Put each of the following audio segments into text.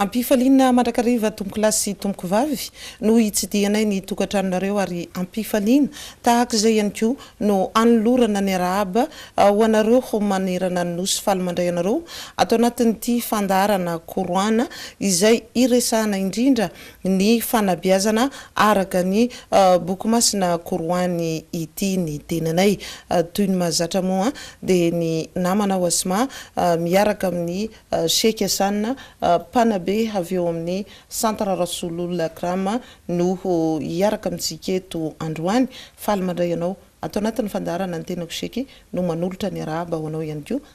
Ampifaliana mandrakariva tompokolahy sy tompokovavy no hitsidihanay ny tokantranonareo ary ampifaliana tahaka izay ihany koa no anolorana ny arahaba ho anareo manerana ny Nosy faly mandray anareo ato anatin'ity fandaharana Koroana izay iresahana indrindra ny fanabeazana araka ny boky masina Koroany ity ny tenanay. Toy ny mahazatra moa dia ny namana ao Asma miaraka amin'ny Sheikh Hassan mpanabe avy ao amin'ny Centre Rasoulul Akram no hiaraka amintsika eto androany. Faly mandray anao ato anatin'ny fandaharana ny tenako Sheikh no manolotra ny arahaba ho anao ihany koa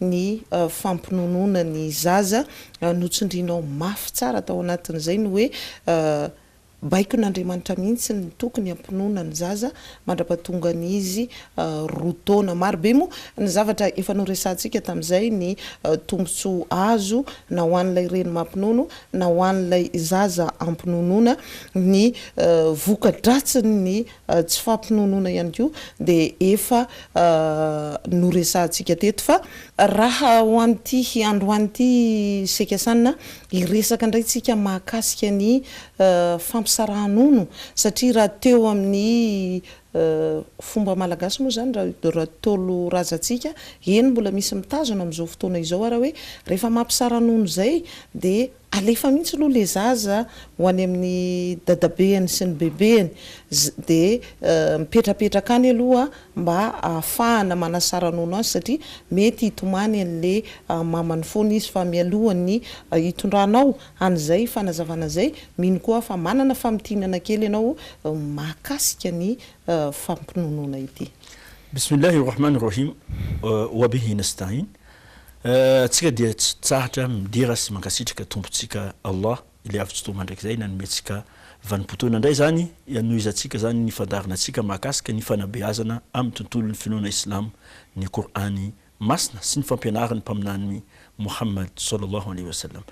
ny fampinonoana ny zaza, notsindrinao mafy tsara tao anatin'izay ny hoe baikon'Andriamanitra mihitsy ny tokony hampinoana ny zaza mandrapatongan'izy roa taona. Marobe moa ny zavatra efa noresahantsika tamin'izay, ny tombontsoa azo na ho an'ilay reny mampinono na ho an'ilay zaza ampinonoana, ny voka-dratsin'ny tsy fampinonoana ihany koa dia efa noresahantsika teto fa raha ho an'ity androany ity Seka Sanina hiresaka indray tsika mahakasika ny fampisaraha-nono satria raha teo amin'ny fomba malagasy moa izany raha Ntaolo razantsika eny mbola misy mitazona amin'izao fotoana izao ary hoe rehefa mampisara-nono izay dia Alefa mihitsy aloha le zaza ho any amin'ny dadabehany sy ny bebehany de mipetrapetraka any aloha mba ahafahana manasaranono azy satria mety hitomany an'le mamany foana izy fa mialohan'ny hitondranao an'izay fanazavana izay mino koa aho fa manana famintinana kely ianao mahakasika ny fampinonoana ity. Bismillah Rohman Rohim Wabihi Nastain Tsika dia tsy tsahatra midera sy mankasitraka Tompontsika Allah Ilay Avo tsy Toa Mandrakizay nanomentsika vanim-potoana indray izany hanohizantsika izany ny fandaharana tsika mahakasika ny fanabeazana amin'ny tontolon'ny finoana Islamo ny Kor'any Masina sy ny fampianaran'ny Mpaminany Mohammad Sallallahu Alaihi Wasallam.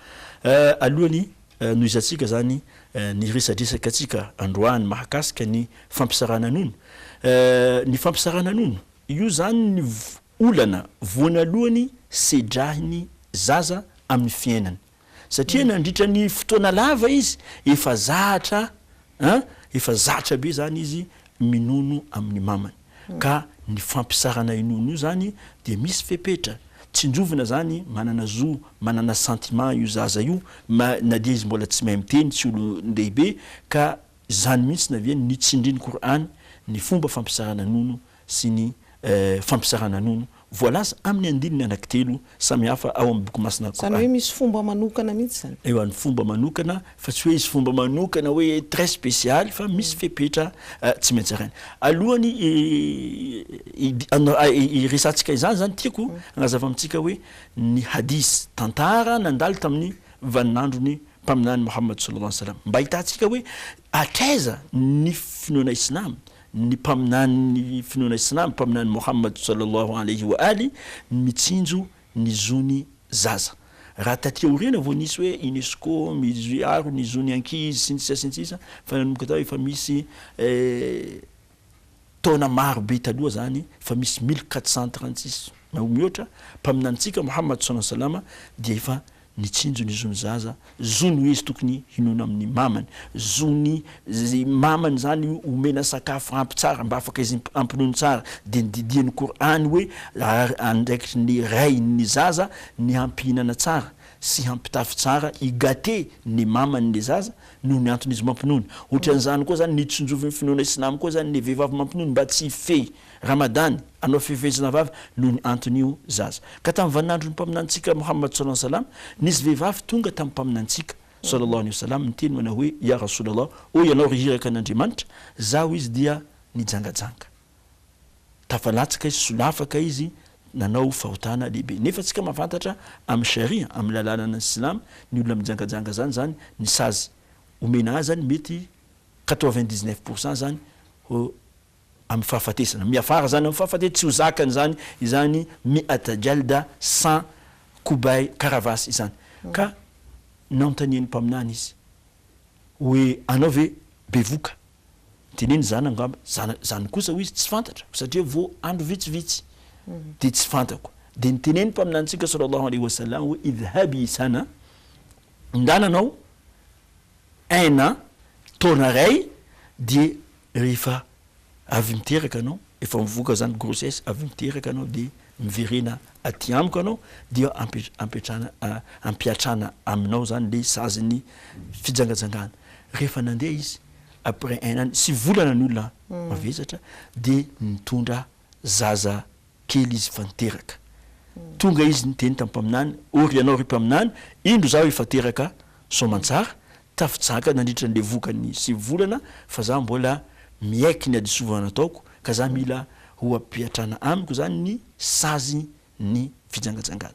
Alohan'ny hanohizantsika izany ny resadresaka tsika androany mahakasika ny fampisarahana nono, ny fampisarahana nono, io izany ny Olana voanalohany sedrahin'ny zaza amin'ny fiainany satria nandritra ny fotoana lava izy efa zahatra an, efa zatra be zany izy minono amin'ny mamany ka ny fampisarana inono io zany dia misy fepetra, tsinjovina zany manana zo manana sentiment io zaza io na dia izy mbola tsy mahay miteny, tsy olon-dehibe ka zany mihitsy na ve ny tsindrin-kor'any ny fomba fampisarana nono sy ny fampizarana nono voalaza amin'ny andininy anankitelo samihafa ao amin'ny boky masina Kor'any. Izany hoe misy fomba manokana mihitsy izany? Ewa, ny fomba manokana fa tsy hoe izy fomba manokana hoe très spécial fa misy fepetra tsy maintsy zaraina. Alohan'ny hiresahantsika izany izany tiako hanazava amintsika hoe ny hadith, tantara nandalo tamin'ny vaninandron'ny Mpaminany Mohamad sallallahu alayhi wa sallam mba ahitantsika hoe hatraiza ny finoana Islam ny mpaminany ny finoana islamy mpaminany Mohammad Sallallahu Alayhi wa Ali ny mitsinjo ny zony zaza raha taty aoriana vao nisy hoe unesco miaro ny zony ankizy sy ny sisa sy ny sisa fa nanomboka tao efa misy taona maro be taloha zany efa misy mille quatre cent trente six na mihoatra mpaminanintsika Mohammad Sallallahu Alayhi wa Sallam dia efa Mitsinjo ny zon'ny zaza, zony hoe izy tokony hinoana amin'ny mamany, zon'ny mamany zany omena sakafo ampy tsara mba afaka izy hampinono tsara, dia ny didian'ny Kor'any hoe andraikitry ny ray ny zaza ny hampihinana tsara sy hampitafy tsara, hi gâter ny mamany le zaza noho ny antony izy mampinono, otran'izany koa zany ny tsinjovin'ny finoana islamo koa zany ny vehivavy mampinono mba tsy hifehy Ramadany, anao fifehezana vava noho ny anton'io zaza. Ka tamin'ny vaninandron'ny Mpaminanitsika Mouhammad sallallahu alayhi wa sallam, nisy vehivavy tonga tamin'ny Mpaminanitsika sallallahu alayhi wa sallam niteny manao hoe, Ya Rasoul Allah, ô Ianao ry Iraka an'Andriamanitra, zah hoy izy dia nijangajanga. Tafalatsaka izy, solafaka izy, nanao fahotana lehibe. Nefa antsika mahafantatra amin'ny Sharia, amin'ny lalànan'ny Silamo, ny olona mijangajanga zany, zany ny sazy omena azy zany mety quatre-vingt-dix-neuf pour cent zany ho. amin'ny fahafatesana, miafara izany amin'ny fahafatesana, tsy ho zakany izany, izany mi'at jalda sans kobay, karavasy, izany. Ka nanontanian'ny Mpaminany izy hoe, Anao ve bevoka? Teneno izany angamba, zana, izany kosa, hoy izy, tsy fantatra, satria vao andro vitsivitsy, dia tsy fantako. Dia niteneno ny Mpaminanintsika sallallahu alaihi wa sallam hoe, Idhhabi sana, ndana anao, aina, taona iray, dia Rehefa avy miteraka anao, efa mivoaka izany grossesse, avy miteraka anao dia miverena aty amiko anao dia ampetrana ampiatrana aminao izany ilay sazin'ny fijangajangana. Rehefa nandeha izy, après un an sy volana ny olona mavesatra dia nitondra zaza. kely izy efa niteraka. Tonga izy niteny tamin'ny mpaminany, Ory ianao, ry mpaminany, indro izaho efa teraka soamantsara, tafi-jaka nandritra an'ilay vokany sivy volana, fa izaho mbola miaiky ny hadisovana nataoko, ka izaho mila ho ampiatrana amiko izany ny sazin'ny fijangajangana.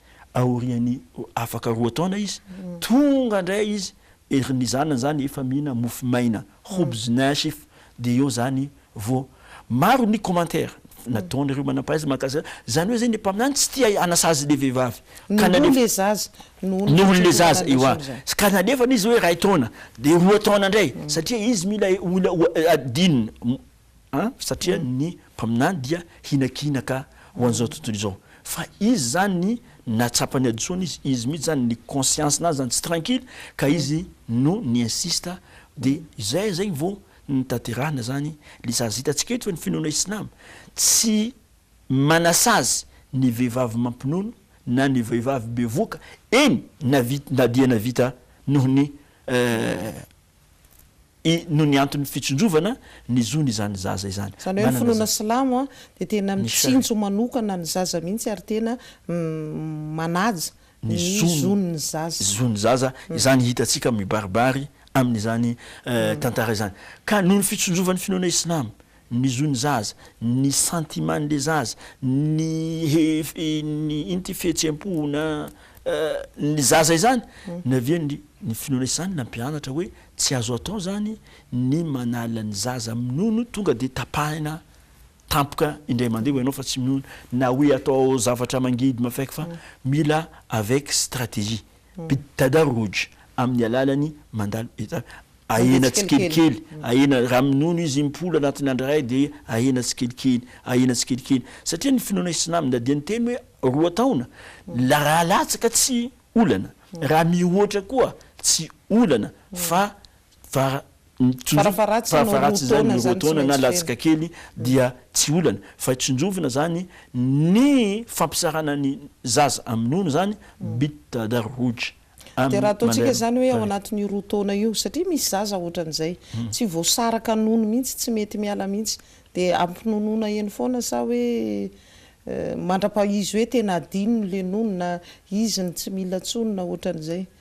aorian'ny afaka roa taona izy, tonga indray izy ery ny zanany izany efa mihinana mofo maina, hobz naasif, dia eo izany vao maro ny commentaires nataon'ireo manam-pahaizana mahakasika izany hoe izay ny mpaminany tsy tia hanasazy ilay vehivavy ka nalefany, noho ilay zaza, noho ilay zaza, ewa, ka nalefany izy hoe iray taona dia roa taona indray satria izy mila adinina, satria ny mpaminany dia hinakinaka ho an'izao tontolo izao, fa izy izany nahatsapany adison izy, izy mihitsy izany ny conscience nazy izany tsy tranquille ka izy no ni insiste dia izay izay vao nitaterana izany le sazy, hitantsika eto fa ny finoana islam tsy manasazy ny vehivavy mampinono na ny vehivavy bevoka eny na dia navita noho ny. i noho ny anton'ny fitsindrovana ny zony izany zaza izany. Izany hoe ny finoana silamo dia tena mitsinjo manokana ny zaza mihitsy ary tena manaja ny zon'ny zaza. Zon'ny zaza, izany hitantsika mibaribary amin'izany tantara izany. Ka noho ny fitsindrovan'ny finoana islamo ny zon'ny zaza, ny sentimen'le zaza, ny ino ty fihetsem-po na ny zaza izany ny avy eo ny ny finoana izany nampianatra hoe tsy azo atao zany ny manala ny zaza minono tonga dia tapahina tampoka indray mandeha hoy ianao fa tsy minono na hoe atao zavatra mangidy mafaika fa mila avec stratégie. Bit-Tadarruj, amin'ny alalan'ny mandalo enta, ahena tsikelikely, ahena, raha minono izy im-polo anatin'ny andro iray dia ahena tsikelikely, ahena tsikelikely, satria ny finoana islam na dia niteny hoe roa taona, la raha latsaka tsy olana, raha mihoatra koa tsy olana, fa Fara, tsonjovina, Farafaharatsiny roa farafaharatsiny izany taona ny roa izany tsy taona na maintsy latsaka feno. kely dia tsy olana fa tsonjovina izany ny fampisarana ny zaza amin'ny nono izany, Bitta da Ruge, Dia raha amin'ny ataontsika Manera izany hoe ao Bari. anatin'io roa taona io, satria misy zaza ohatran'izay tsy voasaraka nono mihitsy, tsy mety miala mihitsy, dia ampinonoana eny foana sa hoe eh, mandrapaha izy hoe tena adinony ilay nono na izy no tsy mila intsony na ohatran'izay.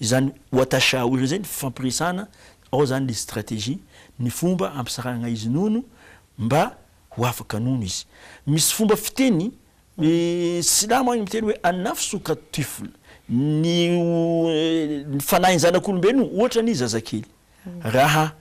Izany Watasha House izay ny fifampiresahana, ao izany ilay stratégie, ny fomba hampisarahana izy nono mba ho afaka nono izy. Misy fomba fiteny silamo any miteny hoe an-nafs u ka tifl, ny fanahin'ny zanak'olombelona ohatra ny zazakely. Raha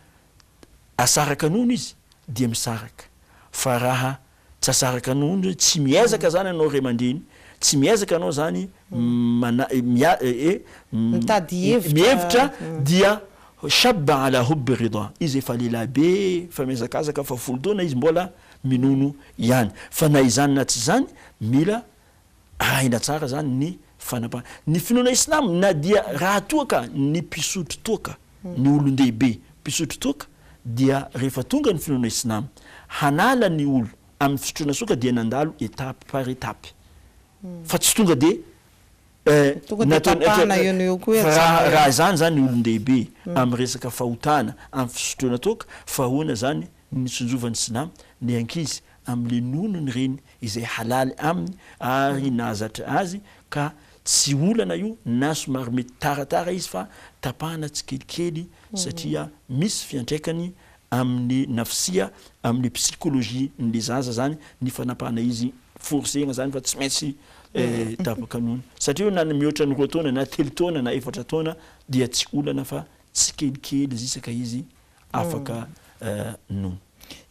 asaraka nono izy dia misaraka fa raha. Tsy asaraka anao ny hoe tsy miezaka zany anao ray aman-dreny, tsy miezaka anao zany mana mia e Mitady hevitra mihevitra dia shabba ala hubbi rida izy efa lehilahy be efa mihazakazaka fa folo taona izy mbola minono ihany fa na izany na tsy izany mila arahina tsara zany ny fanapahana. Ny finoana islamo na dia raha toa ka ny mpisotro toaka, ny olon-dehibe mpisotro toaka dia rehefa tonga ny finoana islamo hanala ny olo amin'ny fisotroana soaka dia nandalo étape par étape fa tsy tonga dia Tonga dia nataony tapahana eo no eo koa hoe raha ajanona eo. raha izany zany ny olon-dehibe amin'ny resaka fahotana amin'ny fisotroana toaka fa ahoana zany ny nitsinjovan'ny silamo ny ankizy amin'ny nonony ireny izay halaly aminy ary nahazatra azy ka tsy olana io na somary mety taratara izy fa tapahana tsikelikely satria misy fiantraikany amin'ny nafsia amin'ny psychologie n'le zaza zany ny fanapahana izy forcena zany fa tsy maintsy tapaka nono satria io na ny mihoatra ny roa taona na telo taona na efatra taona dia tsy olana fa tsikelikely zisaka izy afaka no.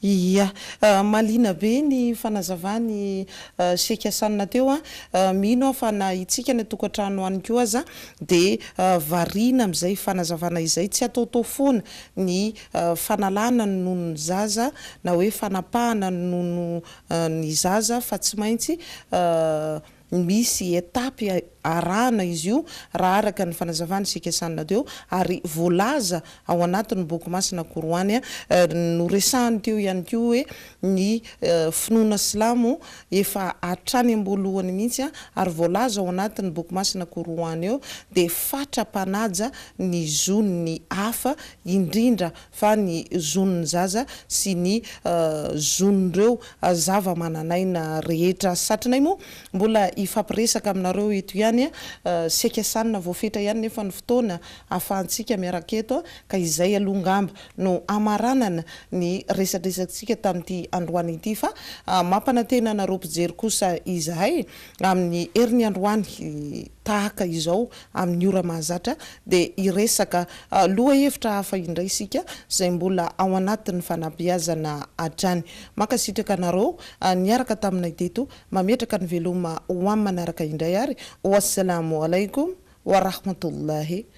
Iya. Mahaliana be ny fanazavan'i Sheikh Hassan teo a. Mino aho fa na itsika any an-tokantrano any koa aza dia variana amin'izay fanazavana izay. Tsy ataotao foana ny fanalana ny nonon'ny zaza na hoe fanapahana ny nonon'ny zaza fa tsy maintsy Misy étapes arahana izy io raha araka ny fanazavan'i Sheikh Sanna teo ary voalaza ao anatin'ny boky masina Koroany. Noresahany teo ihany koa hoe ny finoana silamo efa hatrany am-boalohany mihitsy ary voalaza ao anatin'ny boky masina Koroany eo dia fatra mpanaja ny zon'ny hafa indrindra fa ny zon'ny zaza sy ny zon'ireo zava-manan'aina rehetra. Satrinay moa mbola hifampiresaka aminareo eto ihany, saika sanina voafetra ihany nefa ny fotoana ahafahantsika miaraka eto, ka izay aloha angamba no hamaranana ny resadresakantsika tamin'ity androany ity, fa mampanantena anareo mpijery kosa izahay Amin'ny heriny androany tahaka izao amin'ny ora mahazatra dia hiresaka lohahevitra hafa indray isika izay mbola ao anatin'ny fanabeazana hatrany. Mankasitraka anareo niaraka taminay teto. Mametraka ny veloma ho amin'ny manaraka indray ary. Wa salamu alaikum wa rahmatullahi